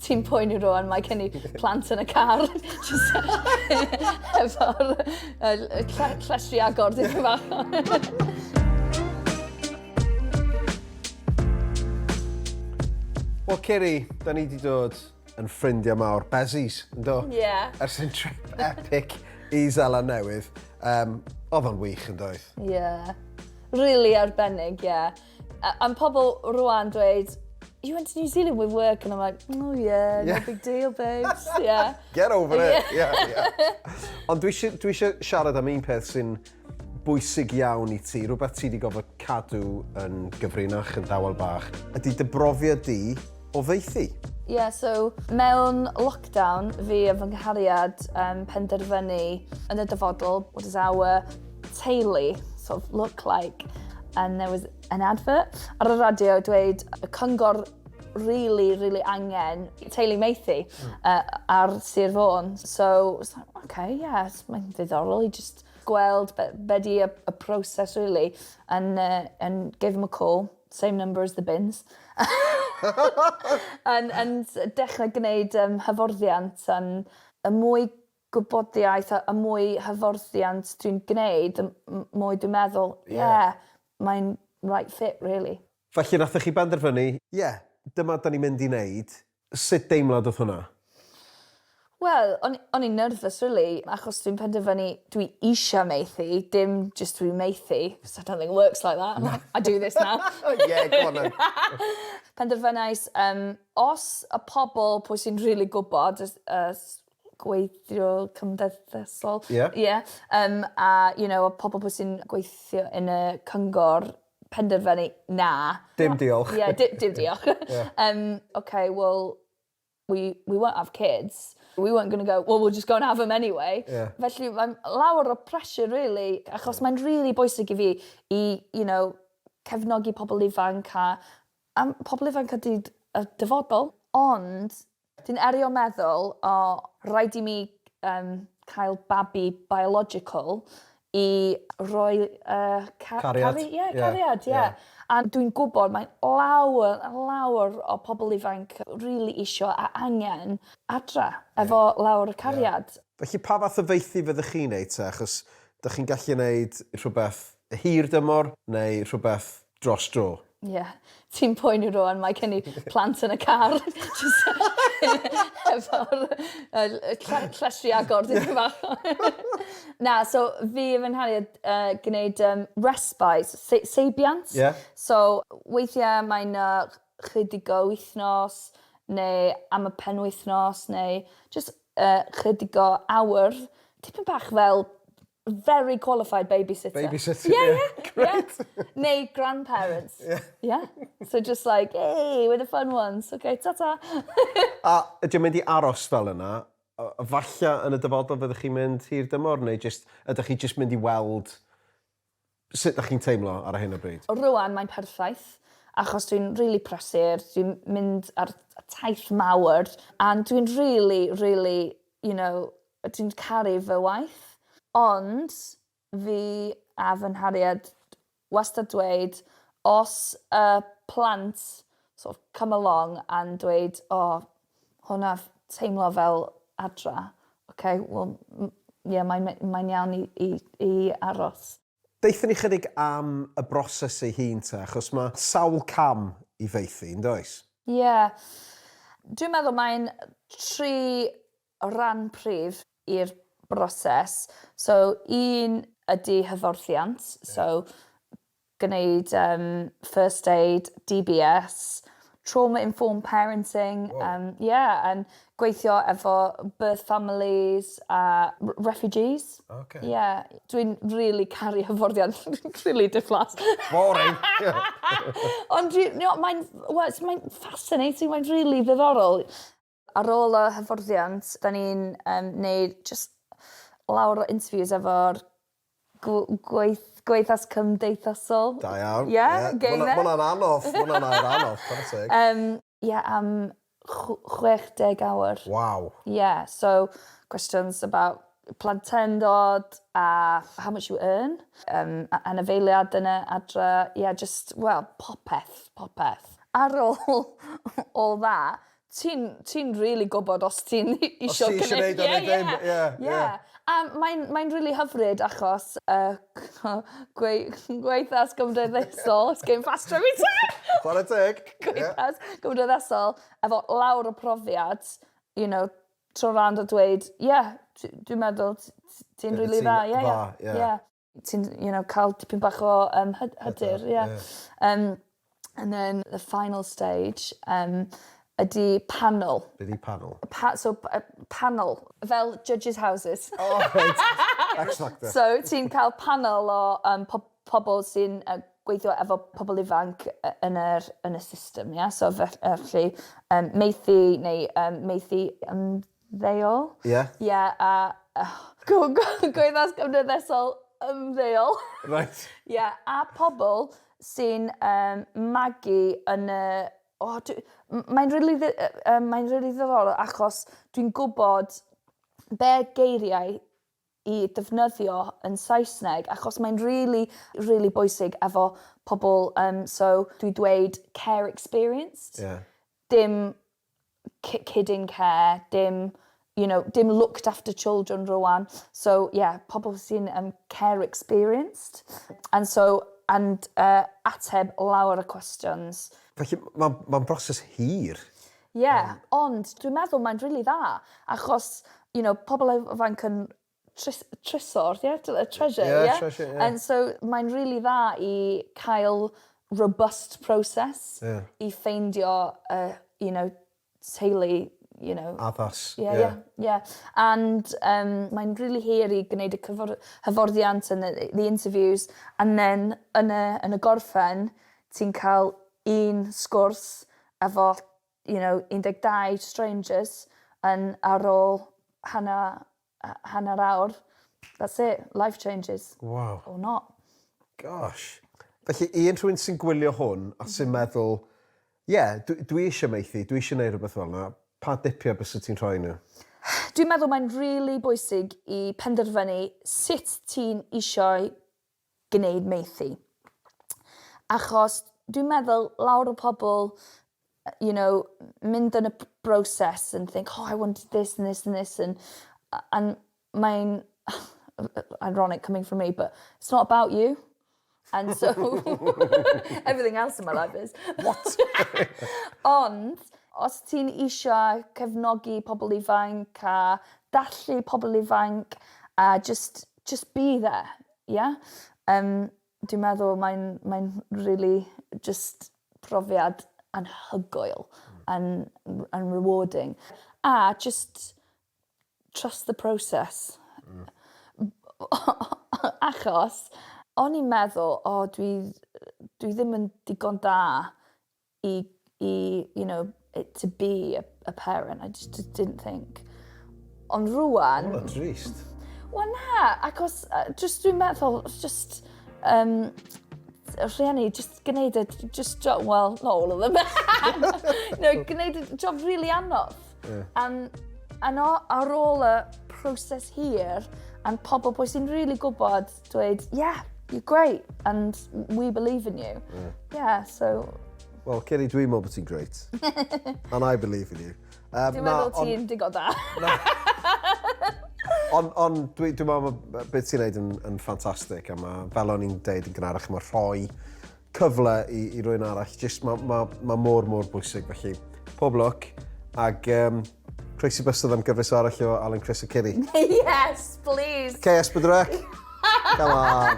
Ti'n poeni rwan, mae gen i plant yn y car. Efo'r llestri agor, ddim yn fach. Wel, Ceri, da ni wedi dod yn ffrindiau mawr. Bezies, yn do? Ie. Yeah. Ers yn trip epic i Zala Newydd. Um, oedd o'n wych, yn doedd? Ie. Yeah. Really arbennig, ie. Yeah. Am pobl rwan dweud, you went to New Zealand with work, and I'm like, oh yeah, no big deal, babes, yeah. Get over it, yeah, yeah. Ond dwi eisiau siarad am un peth sy'n bwysig iawn i ti, rhywbeth ti wedi gofod cadw yn gyfrinach, yn dawel bach. Ydy dy brofiad di Oddeithi? Ie, so mewn lockdown, fi a fy nghariad um, penderfynu yn y dyfodol, what does our teulu sort of look like? And there was an advert ar y radio dweud y cyngor really, really angen teulu meithi uh, ar Sir Fôn. So, like, okay, yes, mae'n ddiddorol i just gweld be, be di y, y proses, really, and, uh, and gave him a call. same number as the bins. yn, yn dechrau gwneud um, hyforddiant yn y mwy gwybodiaeth a, a mwy hyforddiant dwi'n gwneud, y mwy dwi'n meddwl, ie, yeah, yeah mae'n right fit, really. Felly, nathoch chi benderfynu, ie, yeah, dyma da ni'n mynd i wneud, Sut deimlad oedd hwnna? Wel, o'n, o'n i'n nervous rili, achos dwi'n penderfynu dwi eisiau maethu, dim jyst dwi'n maethu, 'chos I don't think it works like that, I'm like, I do this now. Yeah, go on then. Penderfynais, yym, os y pobl pwy sy'n rili gwybod, y y gweithiwr cymdeithasol... Ie. ...ie, yym, a, you know, y pobl pwy sy'n gweithio yn y cyngor, penderfynu, na. Dim diolch. Ie, di- dim diolch. Ie. Yym, ok, wel, we, we won't have kids. We weren't going to go, well, we'll just go and have them anyway. Ie. Felly, mae'n lawer o pressure, really, achos mae'n rili bwysig i fi i, you know, cefnogi pobl ifanc a, a m- pobl ifanc ydy d- y dyfodol. Ond, Dwi'n erio meddwl, o, rhaid i mi um, cael babi biological i roi uh, ca cariad. Cari yeah, yeah, cariad, ie. Yeah. Yeah. A dwi'n gwybod mae lawer, lawer o pobl ifanc really isio a angen adra efo yeah. lawer y cariad. Yeah. Felly pa fath o feithi fyddwch chi'n neud te? Achos da chi'n gallu neud rhywbeth hir dymor neu rhywbeth dros dro. Ie. Yeah. Ti'n poeni rwan, mae gen i plant yn y car. Efo'r llestri agor, ti'n fach. Na, so fi yn fy nhariad uh, gwneud um, respite, se seibiant. Yeah. So weithiau mae'n uh, chydig o wythnos, neu am y penwythnos, neu just uh, chydig o awr. Tipyn bach fel Very qualified babysitter. Babysitter, yeah. Yeah, yeah. Great. Yeah. Neu grandparents. Yeah. yeah. So just like, hey, we're the fun ones. Okay, ta-ta. a ydy'n mynd i aros fel yna? Falle yn y dyfodol fyddwch chi'n mynd hir dymor neu just, ydych chi just mynd i weld Sut dach chi'n teimlo ar hyn o bryd? Rŵan mae'n perffaith achos dwi'n rili prysur, dwi'n mynd ar taith mawr and dwi'n rili rili you know dwi'n caru fy waith ond fi a fy nharied wastad dweud os y plant sort of come along and dweud o hwnna teimlo fel adra. Oce wel m- ie mae me- mae'n iawn i i i aros. Deutha ni chydig am y broses ei hun te achos ma' sawl cam i faethu yndoes? Ie. Dwi'n meddwl mae'n tri ran prif i'r broses. So un ydi hyfforddiant so gwneud yym first aid, DBS, trauma informed parenting yym ie yn gweithio efo birth families a r- refugees. Oce. Ie dwi'n rili caru hyfforddiant rili diflas. Boring! Ond dwi no mae'n wel mae'n fascinating mae'n rili ddiddorol. Ar ôl y hyfforddiant, da ni'n um, neud just lawr o interviews efo'r gweith, gweithas cymdeithasol. Da iawn. Ie, yeah, yeah. game there. Mwna'n anodd, mwna'n air anodd, chwarae teg. Um, Ie, yeah, am 60 awr. Wow. Ie, yeah, so questions about plentyndod a how much you earn, um, anafeiliad yn y adra, ie, yeah, just, well, popeth, popeth. Ar ôl all that, Ti'n ti'n rili gwbod os ti'n isio gneud... Os ti isio neud o neu ddim ie ie. Ie ie. A mae'n mae'n rili hyfryd achos yy ch'mo' gweu- gweithas gymdeithasol it's getting faster every time! Chware teg. Ie. Gweithas gymdeithasol efo lawr y profiad you know trw rando dweud ie dwi dwi'n meddwl t- t- ti'n rili dda ie ie. Dwi 'di ti yn dda ie. Ie. ti'n you know ca'l tipyn bach o yym hy- hyder ie. Ie. Yym and then the final stage yym ydi panel. Be' 'di panel? Y pa- so p- yy panel fel judges houses. O reit. X Factor. So ti'n ca'l panel o yym po- pobol sy'n yy gweithio efo pobol ifanc y- yn yr yn y system ia so fell- yy felly yym maethu neu yym maethu yym ymddeol. Ie? Ie a go- go- gweithas cymdeithasol ymddeol. Reit. Ie a pobol sy'n yym magu yn y o dwi m- mae'n rili ddi- yy yym mae'n rili ddiddorol achos dwi'n gwbod be' geiriau i ddefnyddio yn Saesneg achos mae'n rili rili bwysig efo pobl yym so dwi dweud care experienced. Ie. Dim ki- kid in care dim you know dim looked after children rŵan so ie pobl sy'n yym care experienced and so and yy ateb lawer o questions. Felly m- ma'n ma'n broses hir. Ie, ond dwi'n meddwl mae'n rili dda achos you know pobol ifanc yn trys- trysor ie tr- yy treasure ie? Ie treasure ie. And so mae'n rili dda i cael robust process... Ie. ...i ffeindio y you know teulu you know... Addas ie. ...ie ie ie and yym mae'n rili hir i gneud y cyfor- hyfforddiant and the the interviews and then yn y yn y gorffen ti'n ca'l un sgwrs efo you know 12 strangers yn ar ôl hanner yy hanner awr that's it life changes. Waw. Or not. Gosh. Felly un rhywun sy'n gwylio hwn a sy'n meddwl ie dw- dwi eisiau maethu dwi eisiau neud rhywbeth fel 'na pa dipia bysa ti'n rhoi nhw? Dwi'n meddwl mae'n rili bwysig i penderfynu sut ti'n eisiau gwneud maethu. Achos dwi'n meddwl lawr y pobl you know, mynd yn y broses and think, oh, I want this and this and this and, and mae'n ironic coming from me, but it's not about you. And so, everything else in my life is. What? Ond, os ti'n eisiau cefnogi pobl ifanc a dallu pobl ifanc a just jyst be there ia? Yym dwi'n meddwl mae'n mae'n rili jyst profiad anhygoel yn r- yn rewarding. A jyst trust the process. Hmm. Achos o'n i'n meddwl o dwi dwi ddim yn digon da i i you know it to be a, a parent I just, just didn't think ond rwan Wel, trist. Wel na, achos uh, just dwi'n meddwl just um, rhieni, just gwneud y just job, well, not all of them. no, gwneud y job really anodd. Yeah. And, and ar ôl y proses hir, and pobl bwy sy'n really gwybod Dweud, yeah, you're great and we believe in you. Yeah, yeah so... Wel, Kenny, dwi'n meddwl bod ti'n great. and I believe in you. Um, dwi'n meddwl ti'n digo da. Ond on, dwi'n dwi meddwl beth ti'n neud yn, yn ffantastig, a mae, fel o'n i'n deud yn gynharach, mae rhoi cyfle i, i rwy'n arall. Just mae ma, ma mor, mor bwysig, felly pob lwc. Ac um, croesi bystod am gyfres arall o Alan Chris a Kiri. yes, please. Okay, Esbydrec. Come on.